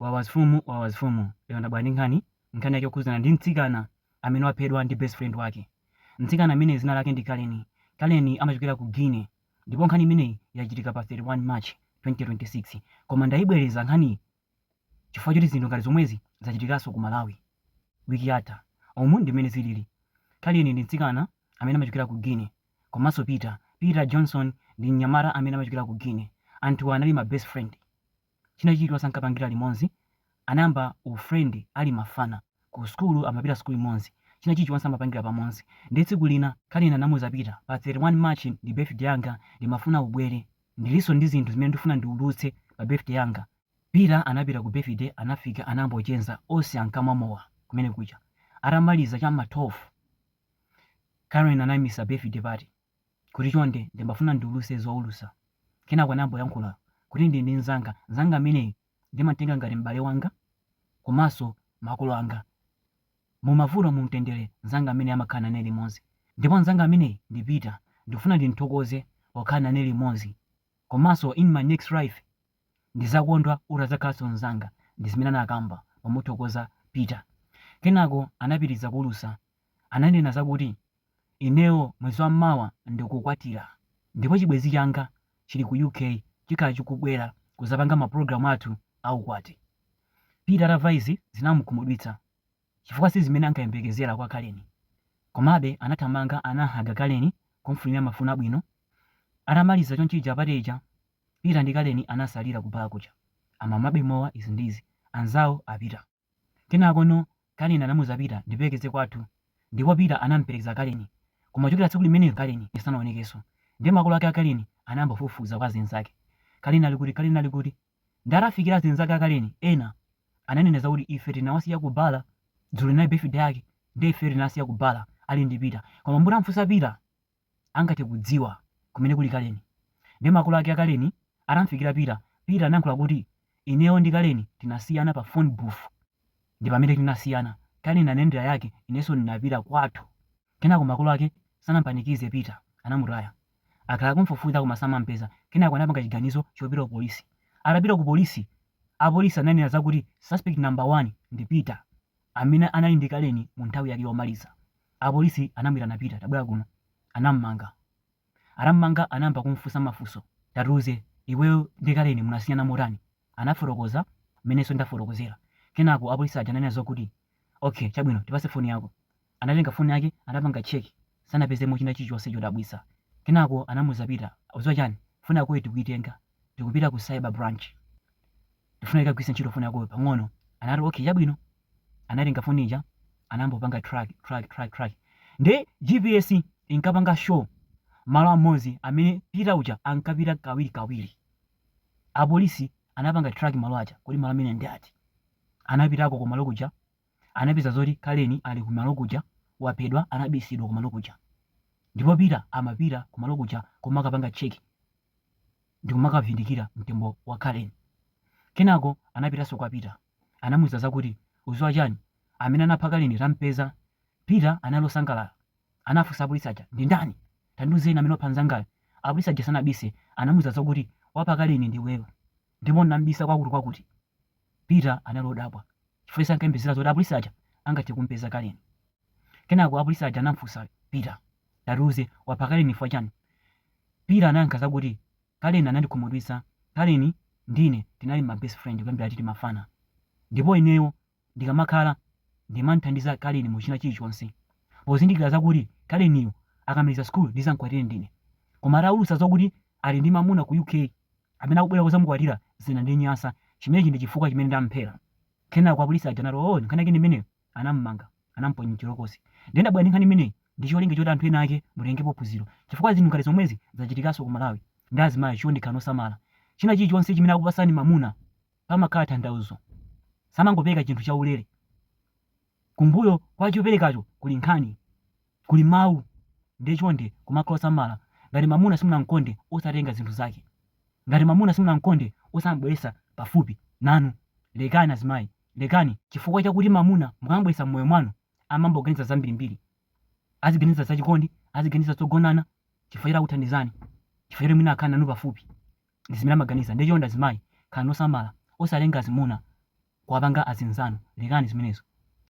Wawa mfumu wawa mfumu lero ndabwera ndi nkhani, nkhani yake yokhudzana ndi mtsikana amene waphedwa ndi best friend wake. Mtsikana ameneyi dzina lake ndi Karen. Karen amachokera ku Guinea ndipo nkhani imeneyi yachitika pa 31 March 2026. Koma ndayibwereza nkhaniyi chifukwa choti zinthu ngati zomwezi zachitikanso ku Malawi wiki yatha. Umu ndi mmene zilili. Karen ndi mtsikana amene amachokera ku Guinea komanso Peter. Peter Johnson ndi mnyamata amene amachokera ku Guinea. Anthuwa anali ma best friend. China chilichonse ankapangira limodzi. Anayamba u friend ali mafana. Ku school amapita sukulu imodzi. China chilichonse amapangira pamodzi. Ndiye tsiku lina Karen anamuuza Peter, pa 31 March ndi birthday yanga ndimafuna ubwere. Ndilinso ndi zinthu zimene ndikufuna ndiuluse pa birthday yanga. Peter anapita ku birthday anafika anayamba kucheza onse ankamwa mowa kumene kuja. Atamaliza cha m'ma 12 Karen anaimitsa birthday party. kuti chonde ndimafuna ndiuluse zoulusa. Kenako anayambo yankhula kuti ndili ndi nzanga, nzanga ameneyu ndimantenga ngati m'bale wanga komanso makolo anga. Mumavuto mumtendere nzanga ameneyi amakhala nane limodzi. Ndipo nzanga ameneyi ndi Peter, ndikufuna ndimthokoze pokhala nane limodzi komanso in my next life ndizakondwa utazakhalanso nzanga ndizimene anakamba pomuthokoza Peter. Kenako anapitiliza kuulusa ananena zakuti Ineyo mwezi wamawa ndikukwatira ndipo chibwenzi changa chili ku UK chikhala chikubwera kuzapanga mapulogalamu athu a ukwati. Peter atava izi zinamukhumudwitsa chifukwa sizimene ankayembekezera kwa Karen. Komabe anathamanga anahaga Karen kumfunira mafuno abwino. Atamaliza chonchija party ija Peter ndi Karen anasalira ku bar kuja akumwabe mowa izi ndi izi anzawo a Peter. Kenakono Karen anamuza Peter ndiperekeze kwathu ndipo Peter anamperekeza Karen koma kuchokera tsiku limenero Karen sanaonekeso nde makolo ake a Karen anayamba kufufuza kwa azinzake Karen ali kuti Karen ali kuti nde atafikira azinzake a Karen ena ananena zakuti ife tinawasiya ku bala dzulo linali birthday yake nde ifeyo tinawasiya ku bala ali ndi Peter koma mutamfusa Peter angathe kudziwa kumene kuli Kaleni. Ndiye makolo ake a Kaleni atamfikira Peter, Peter anayankhula kuti, Ineyo ndi Kaleni tinasiyana pa phone booth. Ndi pamene tinasiyana. Kaleni anayendera yake, inenso ndinapita kwathu. Kenako makolo ake sanampanikize Peter, anamutaya. Akhala akumfufuza koma samampeza. Kenako anapanga chiganizo chopita ku polisi. Atapita ku polisi, apolisi ananena zakuti suspect number one ndi Peter. amene anali ndi Kaleni mu nthawi yake yomaliza. Apolisi anamuyitana Peter, tabwera kuno. Anamumanga. Atamumanga anayamba kumufunsa mafunso. Tatiuze, iweyo ndi Kaleni munasiyana motani? Anafotokoza mmenenso ndafotokozera. Kenako apolisi aja ananena zokuti, Okay, chabwino, tipatse foni yako. Anatenga foni yake, anapanga check, sanapezemo china chilichonse chodabwitsa. Kenako anamuuza Peter, udziwa chani? Foni yakoyi tikuyitenga, tikupita ku cyber branch. Ndikufuna nditagwiritsa ntchito foni yakoyo pang'ono. Anati, Okay, chabwino. Anatenga foni ija, anangopanga track, track, track, track. Nde GPS inkapanga show malo amodzi amene Peter uja ankapita kawirikawiri. Apolisi anapanga track malo aja, kodi malo amene ndi ati? Anapitako ku malo kuja, anapeza zoti Karen ali ku malo kuja, waphedwa, anabisidwa ku malo kuja. Ndipo Peter amapita ku malo kuja kumakapanga check ndi kumakavindikira mtembo wa Karen. Kenako anapitanso kwa Peter. Anamuuza zakuti, Udziwa chani? Amene anapha Karen tam'peza. Peter anali wosangalala. Anafunsa apolisi aja, Ndi ndani? Tandiuzeni amene wapha mnzangayu. Apolisi aja sanabise. Anamuuza zakuti, Wapha Karen ndi iweyo. Ndipo unam'bisa kwakuti kwakuti. Peter anali wodabwa chifukwa iye sankayembekezera zoti apolisi aja angathe kum'peza Karen. Kenako apolisi aja anam'funsa Peter, Tatiuze, wapha Karen chifukwa chani? Peter anayankha zakuti, Karen anandikhumudwitsa. Karen ndi ine tinali ma best friend kuyambira tili mafana. Ndipo ineyo ndikamakhala, ndimam'thandiza Karen mu china chilichonse. Pozindikira zakuti Karen-yu akamaliza school ndizam'kwatire ndine. Koma ataulutsa zokuti ali ndi mamuna ku UK amene akubwera kuzamukwatira zinandinyansa. Chimenechi ndi chifukwa chimene ndam'phera. Kenako apolisi aja anati, Oooh, nkhani yake ndi imeneyo? anam'manga, anamuponya m'chitokosi. Ndiye ndabwera ndi nkhani imeneyi ndi cholinga choti anthu ena ake mutengepo phunziro chifukwa zinthu ngati zomwezi zachitikanso ku Malawi nde azimayi chonde khalani osamala. China chilichonse chimene akupatsani mamuna pamakhala thandauzo. Samangopereka chinthu chaulere. Kumbuyo kwa choperekacho kuli nkhani. Kuli mau. Ndiye chonde kumakhala osamala. Ngati mamuna simunam'konde osatenga zinthu zake. Ngati mamuna simunam'konde osam'bweretsa pafupi nanu. Lekani azimayi. Lekani, chifukwa chakuti mamuna mukam'bweretsa m'moyo mwanu amayamba kuganiza zambirimbiri, aziganiza za chikondi, aziganiza zogonana, chifukwa choti akuthandizani, chifukwa choti mwina akhala nanu pafupi, ndi zimene amaganiza. Ndiye chonde azimayi, khalani osamala, osatenga azimuna kuwapanga azinzanu, lekani zimenezo.